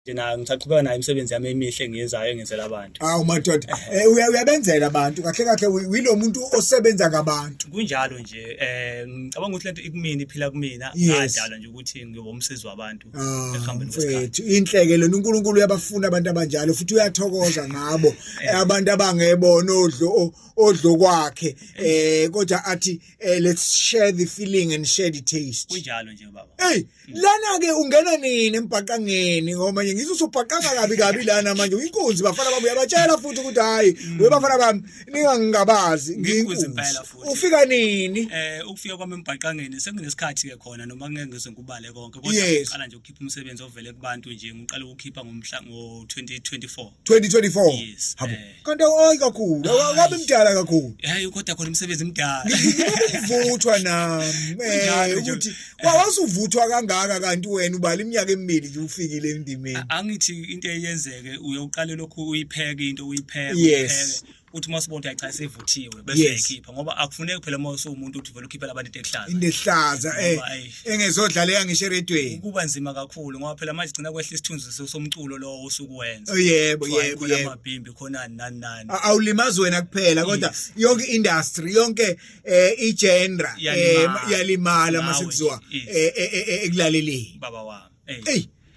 Ngina ngisaqhubeka nayo imisebenzi yami emihle engiyenzayo engenzela abantu. Awu madoda, eh, uya- uyabenzela abantu kahle kahle wi- wilo muntu osebenza ngabantu. Kunjalo nje eh ngicabanga ukuthi lento ikumina iphila kumina Yes. ngadala nje ukuthi ngiyoba umsizi wabantu Ah, ekuhambeni kwesikhathi. mfethu inhleke lona uNkulunkulu uyabafuna abantu abanjalo futhi uyathokoza ngabo Eh. Eh, abantu abangebona odlo o- odlo kwakhe eh kodwa athi eh, let's share the feeling and share the taste Kunjalo nje baba. hey lana ke ungena nini embhaqangeni ngoba nje ngizwe usubhaqanga kabi kabi lana manje uyinkunzi bafana bami uyabatshela futhi ukuthi hayi mm. we bafana bami ningangingabazi ngiyinkunzi ufika nini eh ukufika kwami embhaqangeni senginesikhathi ke khona noma ngeke ngizwe ngikubale konke kodwa ngiqala nje ukukhipha umsebenzi ovele kubantu nje ngiqala ukukhipha ngomhla ngo 2024 2024 habo eh. kanti awayi kakhulu akabe mdala kakhulu hayi kodwa khona umsebenzi mdala ngivuthwa nami eh, ukuthi wawasuvuthwa kangaka kanti wena ubala iminyaka emibili nje ufikile endimeni angithi into eyenzeke uyoqale lokhu uyipheke into uyipheke uyipheke uthi uma usibona ukuthi cha sevuthiwe bese Yes. ekhipha ngoba akufuneki phela uma usuwumuntu uthi vele ukhiphela abantu into ehlaza into ehlaza eh Ngoba, ayi. engezodlala yangisho eredweni kuba nzima kakhulu ngoba phela manje gcina kwehla isithunzi so- somculo lowo osuke wenza Oh, yebo Kuthiwa yebo khona yebo amabhimbi khona nani nani A- awulimazi wena kuphela kodwa Yes. yonke industry yonke eh igenre eh, Iyalimala. yalimala Nawe, masekuziwa yes. eh, eh, eh, eh, ekulaleleni baba wami Ey. eyi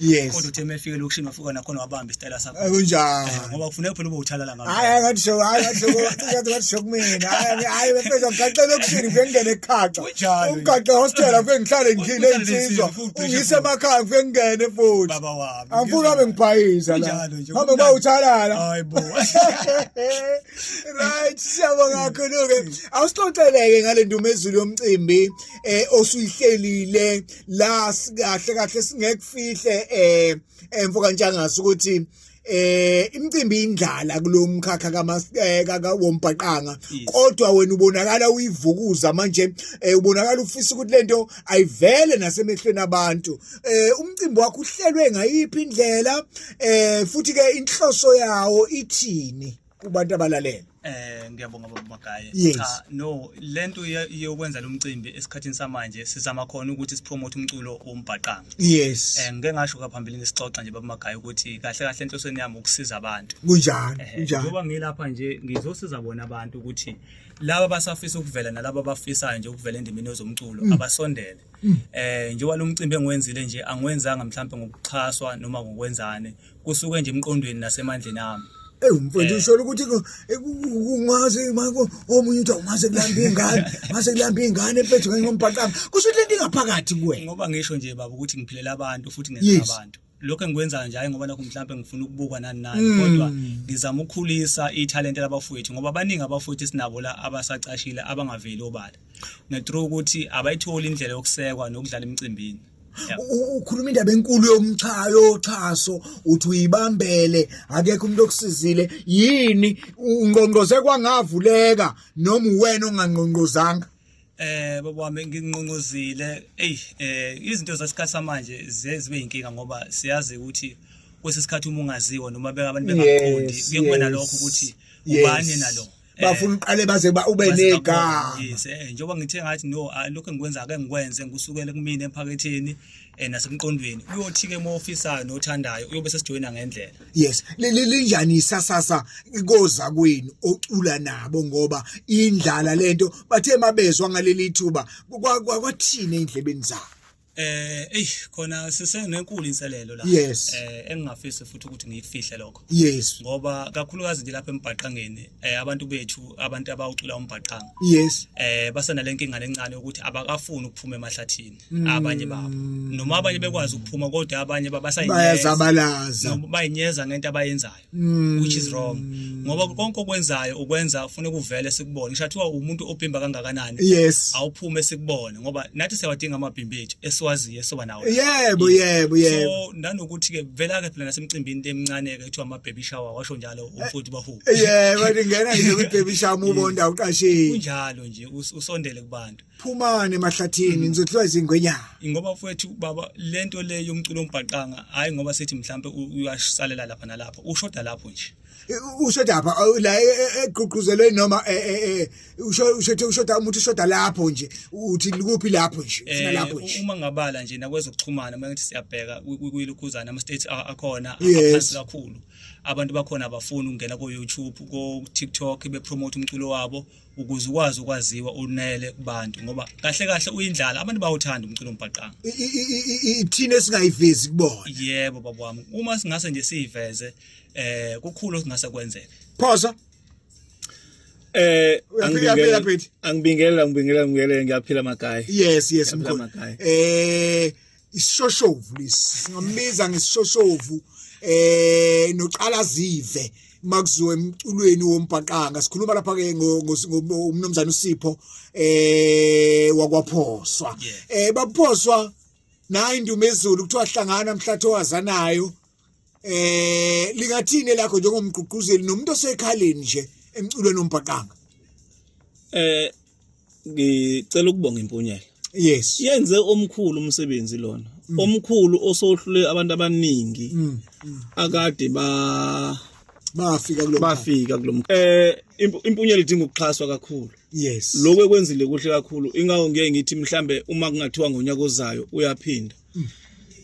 Yes. Kodwa uthe mefike lokushini wafika nakhona wabamba isitayela sakho. Akunjani. Eh, ngoba kufuneka phela ube uthalala ngami. Hayi ngathi show, hayi ngathi show, ngathi ngathi show kumina. Hayi hayi befeza ngigaxe lokushini ngifike ngene ekhaxa. Ungigaxe hostel ngifike ngihlale ngidlile insizwa. Ungise emakhaya ngifike ngene futhi. Baba wami. Angifuni abe ngibhayiza la. Hamba ba uthalala. Hayi bo. Right, siyabonga kakhulu ke. Awusixoxeleke ngale ndumezulu yomcimbi eh osuyihlelile. la sikahle kahle singekufihle eh emfo kantshangase ukuthi eh imicimbi indlala kulomkhakha kamaseka eh, kawombhaqanga kodwa wena ubonakala uyivukuza manje eh, ubonakala ufisa ukuthi lento ayivele nasemehlweni abantu eh umcimbi wakho uhlelwe ngayiphi indlela eh futhi ke inhloso yawo ithini kubantu abalalele Eh ngiyabonga baba Magaye. Yes. Cha no lento ye- yokwenza lomcimbi esikhathini samanje sizama khona ukuthi sipromote umculo wombhaqanga. yes Eh ngike ngasho kaphambilini sixoxa nje baba Magaye ukuthi kahle kahle enhlosweni yami ukusiza abantu. kunjani Eh, kunjani Njengoba ngilapha nje ngizosiza bona abantu ukuthi laba basafisa ukuvela nalaba abafisayo nje ukuvela endimeni yezomculo Mm. abasondele. Eh njengoba lomcimbi engiwenzile nje angiwenzanga mhlawumbe ngokuxhaswa noma ngokwenzane. kusuke nje emqondweni nasemandleni ami ewu mfowethu eh. usholo ukuthi kungaze mako omunye uthi awungaze kulamba ingane ngase kulamba ingane mfethu kanye ngombhaqanga kusho ukuthi lento ingaphakathi kuwe ngoba ngisho nje baba ukuthi ngiphilela abantu futhi ngenza abantu lokho engikwenzayo nje hayi ngoba nakho mhlawumbe ngifuna ukubukwa nani nani hmm. kodwa ngizama ukukhulisa ithalente labafowethu ngoba baningi abafowethu esinabo la abasacashile abangaveli obala nethrough ukuthi abayitholi indlela yokusekwa nokudlala emicimbini ukhuluma indaba enkulu yomchayo yoxhaso uthi uyibambele akekho umuntu okusizile yini ungqongqoze kwangavuleka noma uwena ongangqongqozanga eh baba wami nginqongqozile ey eh izinto zasikhathi samanje zibe inkinga ngoba siyazi ukuthi kwesesikhathi uma ungaziwa noma beka abantu bengakuqondi kuye kuba nalokho ukuthi ubani nalo Eh. bafuna uqale baze ba ube nega yes eh njengoba ngithe ngathi no ah, lokho engikwenza ake ngikwenze ngikusukele kumina emphaketheni eh nasemqondweni uyothi ke uma ofisa nothandayo uyobe sesijoyina ngendlela yes linjani isasasa koza kwenu ocula nabo ngoba indlala lento bathe mabezwa ngaleli thuba kwathini endlebeni zabo Eh ey khona sisenenkulu inselelo la. Yes. Eh engingafisi futhi ukuthi ngiyifihle lokho. Yes. Ngoba kakhulukazi nje lapha embhaqangeni eh abantu bethu abantu abawucula umbhaqanga. Yes. Eh basana lenkinga lencane ukuthi abakafuni ukuphuma emahlathini mm. abanye babo. Noma abanye bekwazi ukuphuma kodwa abanye babasayineza. Bayazabalaza. Noma bayinyeza ngento abayenzayo. Mm. which is wrong ngoba konke okwenzayo ukwenza ufuna kuvele sikubone ngisho athiwa umuntu obhimba kangakanani yes awuphume sikubone ngoba nathi siyawadinga amabhimbi ethu esiwaziyo esoba nawo yebo yebo yebo so nanokuthi ke vela ke phela nasemcimbini emincane ke kuthiwa ama baby shower washo njalo umfuthi bahu yebo ngingena nje kwi baby shower ubonda uqashile kunjalo nje usondele kubantu phumane emahlathini mm. ngizodliwa izingwenyana ingoba mfowethu baba lento le yomculo ombhaqanga hayi ngoba sethi mhlambe uyasalela lapha nalapha ushoda lapho nje ushoda lapha la e, e, e, egqugquzelwe noma ushoda ushoda umuntu ushoda lapho nje uthi likuphi lapho nje ufuna lapho nje uma ngabala nje nakwezokuxhumana uma ngithi siyabheka kuyilukhuzana ama states akhona aphansi kakhulu abantu bakhona abafuni ukungena ko YouTube ko TikTok bepromote umculo wabo ukuze ukwazi ukwaziwa unele kubantu ngoba kahle kahle uyindlala abantu bawuthanda umculo ombhaqanga ithina esingayivezi kubona yebo baba wami uma singase nje siyiveze eh kukhulu okungase kwenzeke phosa eh angibingelela angibingelela ngibingelela ngiyaphila makhaya yes yes mkhulu eh isishoshovu lesi singambiza ngesishoshovu eh noqala zive makuziwe emculweni wombhaqanga sikhuluma lapha ke ngomnumzane uSipho eh wakwaphoswa eh baphoswa nayi indumezulu kuthiwa hlangana mhlatho wazanayo eh lingathini lakho njengomgqugquzeli nomuntu osekhaleni nje emculweni ombhaqanga eh ngicela ukubonga impunyela yes yenze omkhulu umsebenzi lona mm. omkhulu osohlule abantu abaningi mm, mm. akade ba bafika kulo bafika kulo eh impunyela idinga ukuxhaswa kakhulu yes lokho ekwenzile kuhle kakhulu ingawo ngeke ngithi mhlambe uma kungathiwa ngonyaka ozayo uyaphinda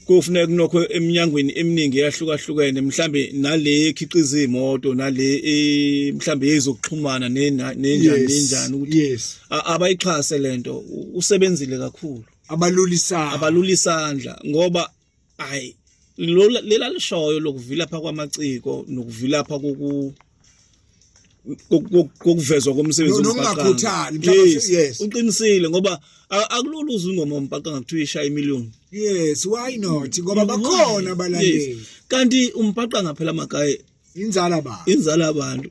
kufuneka kunokho eminyangweni eminingi eyahlukahlukene mhlambe nale ekhiqiza imoto nale e, mhlambe yezokuxhumana nenjani nenjani ukuthi abayixhase lento usebenzile kakhulu abalulisana abalulisandla ngoba hayi lela lishoyo lokuvilapha kwamaciko nokuvilapha koku kokuvezwa komsebenzi nokungakhuthali yes yes uqinisile ngoba akulula uzwe ingoma umbhaqa ngakuthiwa ishaya imillion yes why not ngoba bakhona abalandeli kanti umbhaqa ngaphela amagaye inzala ba inzala abantu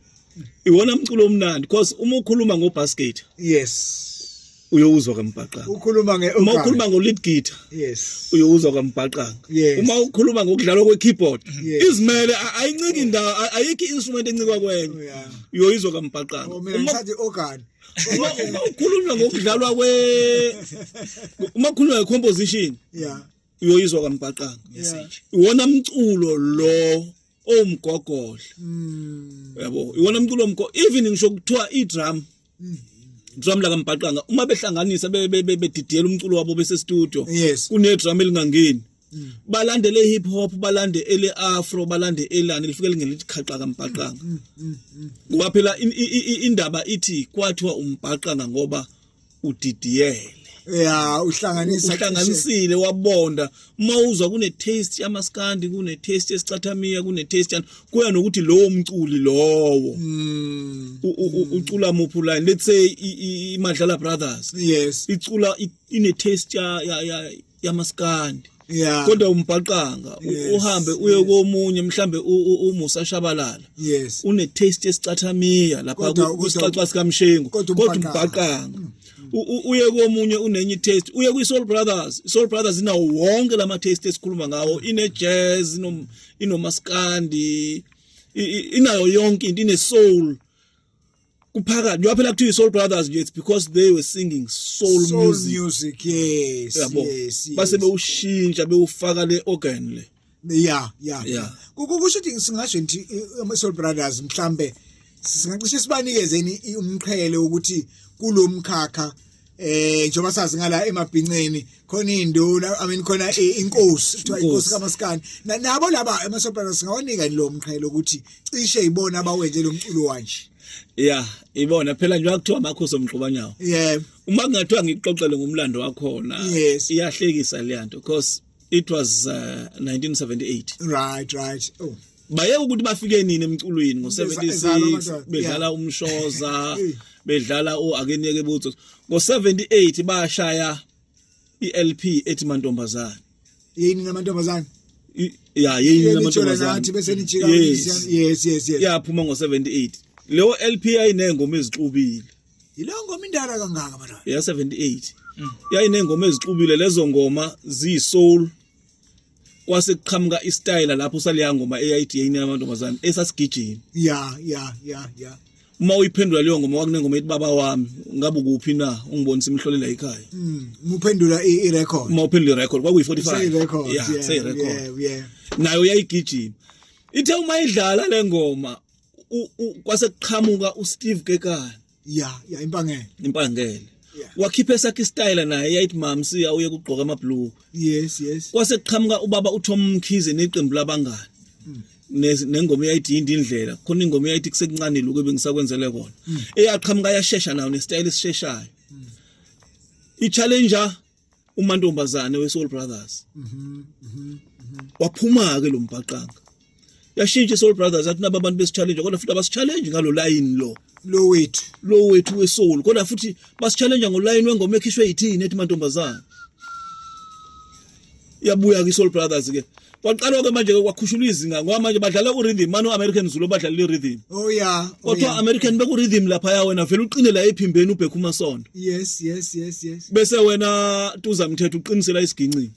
iwona mculo omnandi because uma ukhuluma ngobasket yes uyowuzwa kambhaqanga ukhuluma nge uma ukhuluma ngo lead guitar yes uyowuzwa kambhaqanga yes. uma ukhuluma ngokudlalwa kwe keyboard yes. izimele ayinciki indawo ayikho instrument encikwa kwenye oh, yeah. uyoyizwa kambhaqanga oh, uma ngisathi organ uma uma ukhuluma ngokudlalwa kwe uma ukhuluma nge composition yeah uyoyizwa kambhaqanga yeah. iwona mculo lo owumgogodla mm. yabo iwona mculo omgo even ngisho kuthiwa i drum drum la kambhaqanga uma behlanganisa bedidiyela umculo wabo bese studio kune drum elingangeni mm. balande le hip hop balande ele afro balande elani lifike lingelithi khaqa kambhaqanga mm, mm, ngoba phela indaba ithi kwathiwa umbhaqanga ngoba udidiyele ya uhlanganisa uhlanganisile wabonda uma uzwa kune taste yamaskandi kune taste yesicathamiya kune taste yani kuya nokuthi lowo mculi lowo mm. ucula muphu line let's say imadlala brothers yes icula ine taste ya ya yamaskandi yeah. kodwa umbhaqanga yes. uhambe uye yes. komunye mhlambe umusa shabalala yes. une taste esicathamiya lapha kusixaxa sikamshengu kodwa umbhaqanga mm. uye komunye unenye taste uye kwi Soul Brothers Soul Brothers inawo wonke lama taste esikhuluma ngawo ine jazz ino inomaskandi inayo yonke into ine soul kuphakathi njengoba phela kuthiwa i-soul brothers nje it's because they were singing soul, soul music, music yes, yabo yes, yes. base bewushintsha bewufaka le organ le ya ya Yeah. kukusho ukuthi singasho ngithi ama-soul brothers mhlambe singacishe sibanikezeni i- umqhele wokuthi kulo mkhakha eh njengoba sazi ngala emabhinceni khona induna i mean khona i- inkosi kuthiwa inkosi Inkosi. kamaskani Na- nabo laba ama-soul brothers singawanika yini lo mqhele ukuthi cishe yibona abawenze lo mculo wanje ya ibona phela nje wakuthiwa amakhosi omgxubanyawo yebo uma kungathiwa ngikuxoxele ngomlando wakhona Yes. iyahlekisa leya nto because it was uh, 1978 right right oh bayeke ukuthi bafike nini emculweni ngo76 bedlala umshoza bedlala o akeniyeke butho ngo78 bashaya iLP ethi mantombazana yini namantombazana ya yini namantombazana ngathi bese nijika yes yes yes yaphuma ngo78 leyo LP ayinengoma ezixubile Yileyo ngoma indala kangaka mara. Ya 78. Mm. Yayinengoma ezixubile lezo ngoma zi soul. Kwase kuqhamuka i style lapho saliya ngoma AID yini yamantombazane esasigijini. Ya ya ya ya. uma uyiphendula leyo ngoma wakunengoma ethi baba wami ngabe ukuphi na ungibonisa imhlolela ekhaya mm, muphendula i record uma uphendula i record kwakuyi 45 yeah say record nayo yayigijima ithe uma idlala lengoma kwase kuqhamuka uSteve Kekana ya ya impangele impangele wakhipha esakhe istyle naye yayithi mamsi awuye kugqoka amabhlue yes yes kwase kuqhamuka ubaba uTom Mkhize neqembu labangani hmm. nengoma eyayithi yindi indlela khona ingoma eyayithi kusekuncane lokho bengisakwenzele kona hmm. eyaqhamuka yashesha nayo nestyle esisheshayo hmm. i challenger umantombazane weSoul Brothers mhm mhm waphuma ke lo mbhaqanga yashintsha iSoul Brothers athi naba abantu besichallenge kodwa futhi abasichallenge ngalo line lo lo wethu lo wethu weSoul kodwa futhi basichallenge ngoline wengoma ekhishwe yithini ethi mantombazane iyabuya kwi-soul brothers ke kwaqalwa-ke manje-ke kwakhushulwa izinga ngoba manje badlala ku-rhythm mani u-american zulu obadlalela i-rhythm oh yeah oh, kodwa yeah. american beku-rhythm laphaya wena vele uqine la ephimbeni ubhekha umasondo yes yes yes yes bese wena tuza mthetho uqinisela isigincingi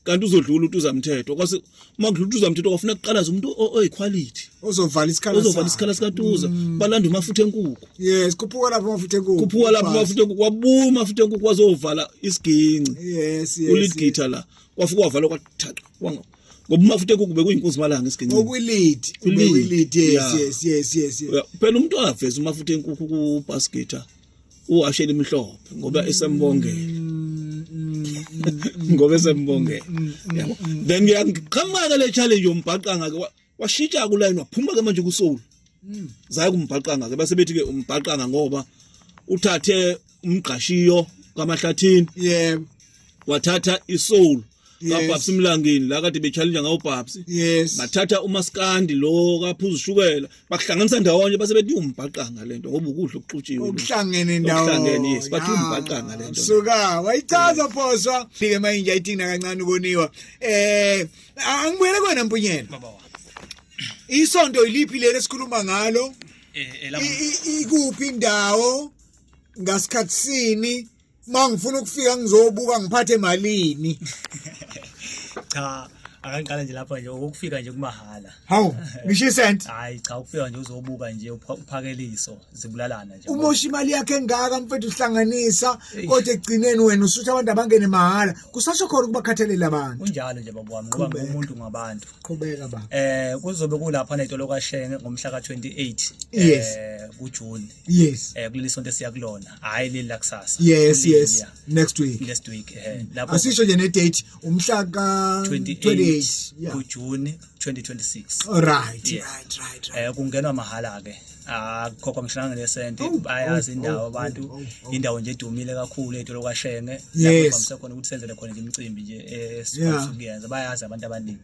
kanti uzodlula utuza mthetho kwase uma kudlula utuza mthetho kwafuna kuqalaza umuntu oyiquality ozovala isikhala ozovala isikhala sikatuza mm. balanda umafutha enkuku yes kuphuka lapho mafutha enkukhu kuphuka lapho mafutha enkukhu wabuma mafutha enkukhu wazovala isiginci yes yes uligitha la wafika wavala kwathatha wanga ngoba umafutha enkukhu bekuyinkunzi malanga isiginci ngokwilid ngokwilid yes yes yes yes phela umuntu aveza umafutha enkukhu ku basketha uwashela imhlophe ngoba esembongela mm, mm, mm, ngoba esembongela yabo then ngiyakhamaza le challenge yombhaqanga ke washintsha kulayini waphuma ke manje kusoul hmm. zaye kumbhaqanga ke base bethi ke umbhaqanga ngoba uthathe umgqashiyo kamahlathini yebo wathatha isoul kababs mlangini la kade bechallenge ngawo babs yes bathatha umaskandi lo kaphuza ushukela bakuhlanganisa ndawonye base bethi umbhaqanga lento ngoba ukudla okuxutshiwe okuhlangene ndawo okuhlangene yes bathi umbhaqanga lento suka wayichaza phoswa fike mayinja itina kancane ukoniwa eh A- angibuyele kwena mpunyela baba wami isonto yiliphi leli esikhuluma ngalo eh I- elabo i- ikuphi indawo ngasikhathi sini uma ngifuna ukufika ngizobuka ngiphathe malini cha akangiqala nje lapha nje ukufika nje kumahala hawu ngisho isenti hayi cha ukufika nje uzobuka nje upha- uphakeliso zibulalana nje umosha imali yakhe engaka mfethu uhlanganisa kodwa ekugcineni wena usuthi abantu abangene mahhala kusasho khona ukubakhathalela abantu kunjalo nje baba wami ngoba ngumuntu ngabantu qhubeka ba eh kuzobe kulapha netolo kashenge ngomhla ka28 yes eh kujune yes eh kuleli sonto esiya kulona hayi leli la kusasa yes yes next week next week eh mm. lapho asisho nje ne date umhla ka 28 kujune 2026 right yeah. right right right eh kungenwa mahala ke akukhokhwa ngisho nangelesenti oh, bayazi oh, indawo oh, abantu indawo nje edumile kakhulu edolo kwashenge lapho bamse khona ukuthi senzele khona nje imicimbi nje esifuna eh, ukuyenza bayazi abantu abaningi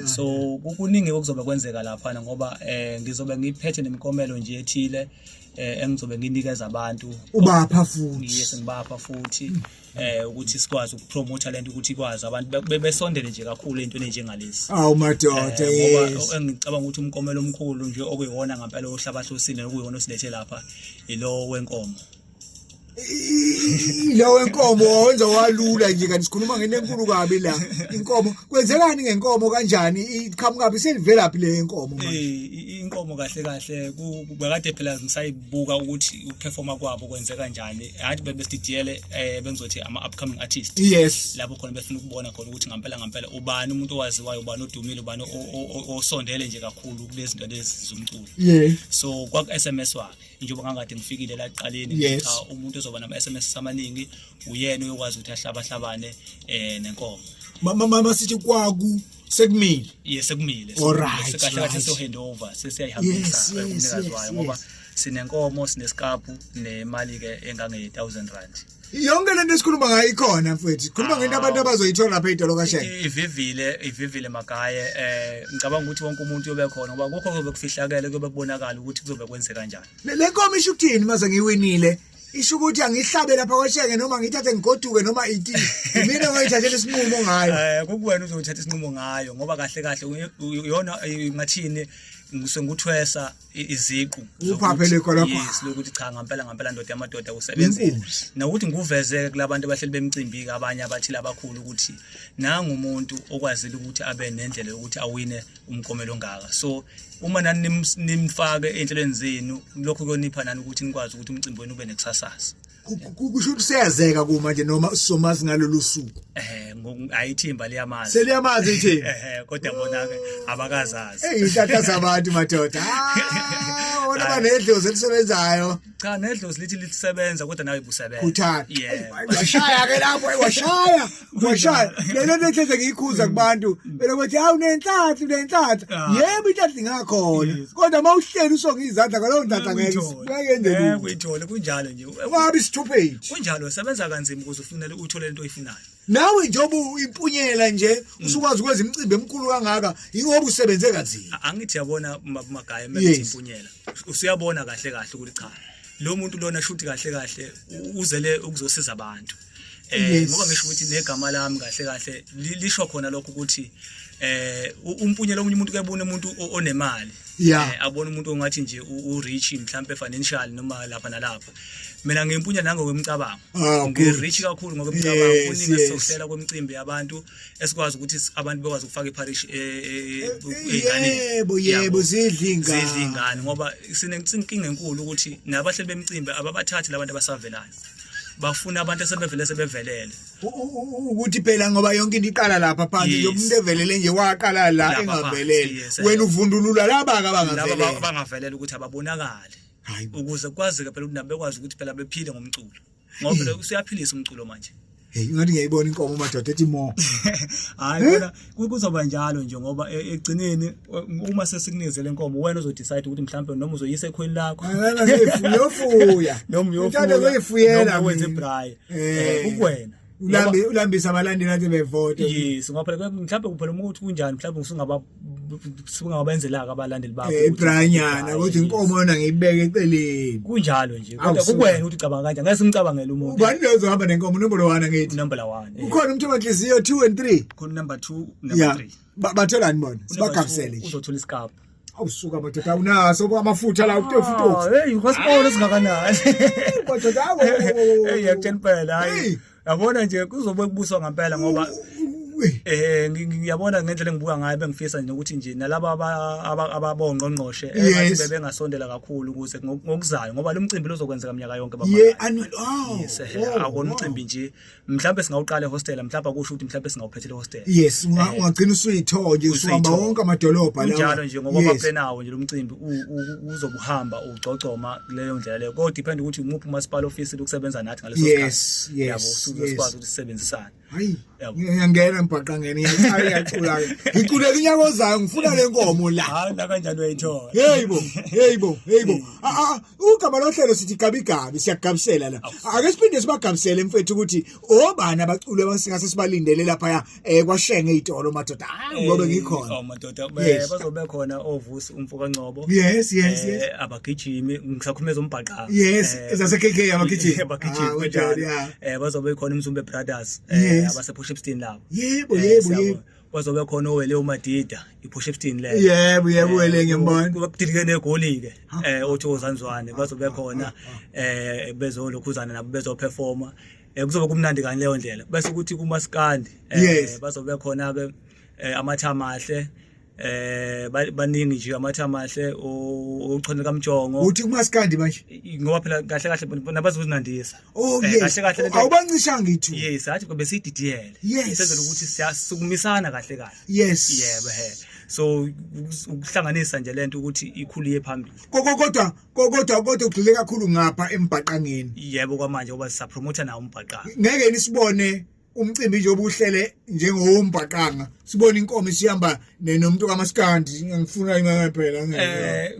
so kuningi okuzobe kwenzeka lapha ngoba eh ngizobe ngiphethe nemikomelo nje ethile eh engizobe nginikeza abantu ubapha futhi yes ngibapha futhi eh ukuthi sikwazi ukupromote lento ukuthi ikwazi abantu be- besondele nje kakhulu entweni enjengalezi awu madoda Eh, ngoba yes engicabanga ukuthi umkomelo omkhulu nje okuyiwona ngampela ohlabahlosile okuyiwona osilethe lapha ilo wenkomo ilowo enkomo wawenza walula nje kanti sikhuluma ngento enkulu kabi la inkomo kwenzekani ngenkomo kanjani iqhamukabi selivelaphi le yenkomo manje Eh, i- inkomo kahle kahle ku- ku- bekade phela ngisayibuka ukuthi ukuperforma kwabo kwenzeka njani hathi bebesididiyele um eh, bengizothi ama-upcoming artist yes lapho khona befuna ukubona khona ukuthi ngampela ngampela ubani umuntu owaziwayo ubani odumile ubani osondele nje kakhulu kulezi zinto lezi zomculo yeah. so kwaku-s m s wakhe njengoba ngangade ngifikile la kuqaleni yes. cha umuntu ozoba nama-s m s amaningi uyena uyokwazi ukuthi ahlabahlabane um eh, nenkomo mama sithi kwaku sekumile yes sekumile alright kahle kahle so hand over sesiyayihambisa umnikazi wayo ngoba sinenkomo sinesikaphu nemali ke engange 1000 rand yonke lento esikhuluma ngayo ikhona mfethu khuluma ah. ngento abantu abazoyithola lapha idolo kasheke ivivile ivivile magaye eh ngicabanga ukuthi wonke umuntu yobe khona ngoba kokho kuzobe kufihlakele kuyobe kubonakala ukuthi kuzobe kwenzeka kanjani le nkomo isho ukuthini maze ngiwinile isho ukuthi angihlabe lapha kwashenge noma ngithathe ngigoduke noma iti mina ngayithathela isinqumo ngayo eh kukuwena uzothatha isinqumo ngayo ngoba kahle kahle uyona ngathini ngisengikuthwesa iziqu uphaphele khona pha yes lokuthi cha ngempela ngempela ndoda yamadoda usebenzile nokuthi ngikuvezeke kulabantu abahleli bemcimbi abanye abathile abakhulu ukuthi nangu umuntu okwazile ukuthi abe nendlela yokuthi awine umkomelo ongaka so uma nani nimfake enhlelweni zenu lokho kuyonipha nani ukuthi nikwazi ukuthi umcimbi wenu ube nekusasasa kusho ukuthi siyazeka kuma nje noma sizomazi ngalolu suku eh ayithimba liyamazi seliyamazi ithimba eh kodwa bona ke abakazazi eyihlahla zabantu madoda ah wona banedlozi elisebenzayo cha nedlozi lithi lisebenza kodwa nawe busebenza Khuthana. yeah washaya ke lapho ayi, washaya washaya lelo netheze ngiyikhuza kubantu belo kuthi hawu nenhlanhla nenhlanhla Ah. yebo inhlanhla ingakhona Yes. kodwa uma uhleli usonga izandla ngalowo ntatha ngeke Uyithole. ngeke yenze Eh, lutho uyithole kunjalo nje ungabi stupid kunjalo sebenza kanzima ukuze ufunele uthole into oyifunayo nawe njengoba impunyela nje mm. usukwazi ukwenza imicimbi emkhulu kangaka ingoba usebenze kanzima angithi yabona magaya methi impunyela usuyabona kahle kahle ukuthi cha lo muntu lona shuthi kahle kahle uzele ukuzosiza abantu eh ngoba ngisho ukuthi negama lami kahle kahle lisho khona lokho ukuthi eh umpunyela omunye umuntu kebona umuntu onemali eh, abona umuntu ongathi nje u rich mhlambe financial noma lapha nalapha mina ngimpunya nango kwemicabango ah, ngirich kakhulu ngokwemicabango kuningi esizohlela kwemicimbi yabantu esikwazi ukuthi abantu bekwazi ukufaka iparish e, e, e, eziganeni yebo yebo zidla ingane zidla ingane ngoba sinenkinga enkulu ukuthi nabahleli bemicimbi ababathathi labantu abasavelayo bafuna abantu esebevele sebevelele ukuthi phela ngoba yonke into iqala lapha phansi nje umuntu evelele nje waqala la engavelele wena uvundulula laba ka bangavelele laba bangavelele ukuthi ababonakali Hayi bo. ukuze kwazeke phela ukuthi nabo bekwazi ukuthi phela bephile ngomculo ngoba phela usuyaphilisa umculo manje Hey, ingathi ngiyayibona inkomo madoda ethi mo. hayi kona ku- kuzoba njalo nje ngoba e- ekugcineni u- uma sesikunikizele inkomo wena uzodecide ukuthi mhlawumbe noma uzoyisa ekhweni lakho Ngala ngiyofuya. noma Ngithanda ukuyifuyela. noma wenze mina. braai Eh. kukuwena ulambe ulambisa abalandeli athi bevote yes ngoba phela mhlawumbe kuphela uma ukuthi kunjani mhlawumbe ngisungaba singababenzelaka abalandeli bakho eh branyana ukuthi inkomo yona ngiyibeke eceleni kunjalo nje kodwa kukwena ukuthi ucabanga kanjani ngeke simcabangele umuntu ubani lezo hamba nenkomo number 1 ngithi number 1 ukhona umthombo nhliziyo 2 and 3 khona number 2 number 3 bathola ni bona sibagabusele nje uzothola isikapa awusuka madoda awunaso bo amafutha la utefu ah, utofu hey hospital singakanani madoda awu hey yakutshela impela hayi yabona nje kuzobe kubuswa ngempela ngoba eh ngiyabona ngendlela engibuka ngayo bengifisa nje ukuthi nje nalabo ababongqongqoshe engathi eh, bengasondela kakhulu ukuze ngokuzayo ngoba lo mcimbi lozokwenzeka mnyaka yonke baba yeah annual oh, yes eh, oh, akona umcimbi nje mhlawumbe singawuqala ehostela mhlawumbe akusho ukuthi mhlawumbe singawuphethela ehostela yes eh, ungagcina usuyithoje usuhamba wonke amadolobha lawa njalo nje ngoba baphenawo nje lomcimbi uzobuhamba ugcogcoma kuleyo ndlela leyo kodwa depend ukuthi umuphi umasipala office ukusebenza nathi ngaleso sikhathi yes yes yabo sizokwazi ukuthi sisebenzisane hayi ngiyangena mbhaqangene ngiyacula ngiculeka unyaka ozayo ngifuna le nkomo la hayi la kanjani uyayithola hey bo hey bo hey bo ugama lohlelo sithi gabigabi siyagabisela la ake siphinde sibagabisele mfethu ukuthi obani abaculi abasingase sibalindele lapha eh kwashenge izitolo madoda hayi ngobe ngikhona oh madoda bazobe khona ovusi umfoka Ngcobo yes yes yes abagijimi ngisakhumeza umbhaqa yes ezase KK abagijimi abagijimi kanjalo eh bazobe khona umzumbe brothers abase push up steam labo yebo yebo yebo wazobe khona owele umadida iphusha ebutini leyo yebo yebo wele eh, ngembona kubabudilike negoli ke eh othokozanzwane bazobe khona eh bezolokhuzana nabo bezoperforma eh kuzobe kumnandi kani leyo ndlela bese ukuthi kumaskandi eh bazobe khona ke eh, amathama ahle eh baningi nje amatha amahle ochonela kamjongo uthi kumaskandi manje ngoba phela kahle kahle nabazozinandisa Oh eh, yes. Awubancishanga ithu. Yes, athi kube sididiyele. Yes. Senzela ukuthi siyasukumisana kahle kahle. Yes. Yebo he. So ukuhlanganisa nje lento ukuthi ikhulu ye phambili. Kodwa kodwa kodwa kodwa ugxile kakhulu ngapha embhaqangeni. Yebo kwamanje ngoba sisapromote nawo umbhaqanga. Ngeke nisibone umcimbi nje obuhlele njengowombhaqanga sibona inkomo isihamba nomuntu kamaskandi ngifuna imali phela eh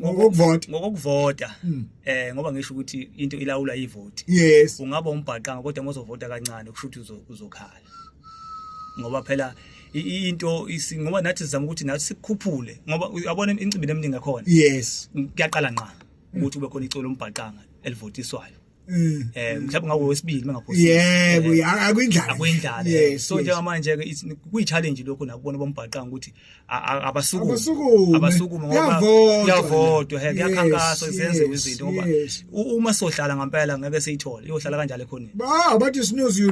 ngokuvota ngokuvota hmm. eh ngoba ngisho ukuthi into ilawula ivoti yes ungaba umbhaqanga kodwa mozovota kancane kusho ukuthi uzokhala ngoba phela into ngoba nathi sizama ukuthi nathi sikukhuphule ngoba uyabona incimbi eminingi ekhona yes kuyaqala nqa ukuthi kube khona icolo lombhaqanga elivotiswayo Mm. eh mhlawumbe ngawo wesibili bengaphosisi yebo Eh, ya- akuyindlala akuyindlala Yes, so yes. njengamanje ke it's- kuyi-challenge lokho nakubona bombhaqanga ukuthi a- a- abasukume Abasukume. abasukume ngoba Kuyavotwa. kuyavotwa he Yes, kuyakhankaswa kusenziwa yes, izinto ngoba yes. u- uma sohlala ngempela ngeke siyithole iyohlala kanjalo ekhoneni ba abathi sinozi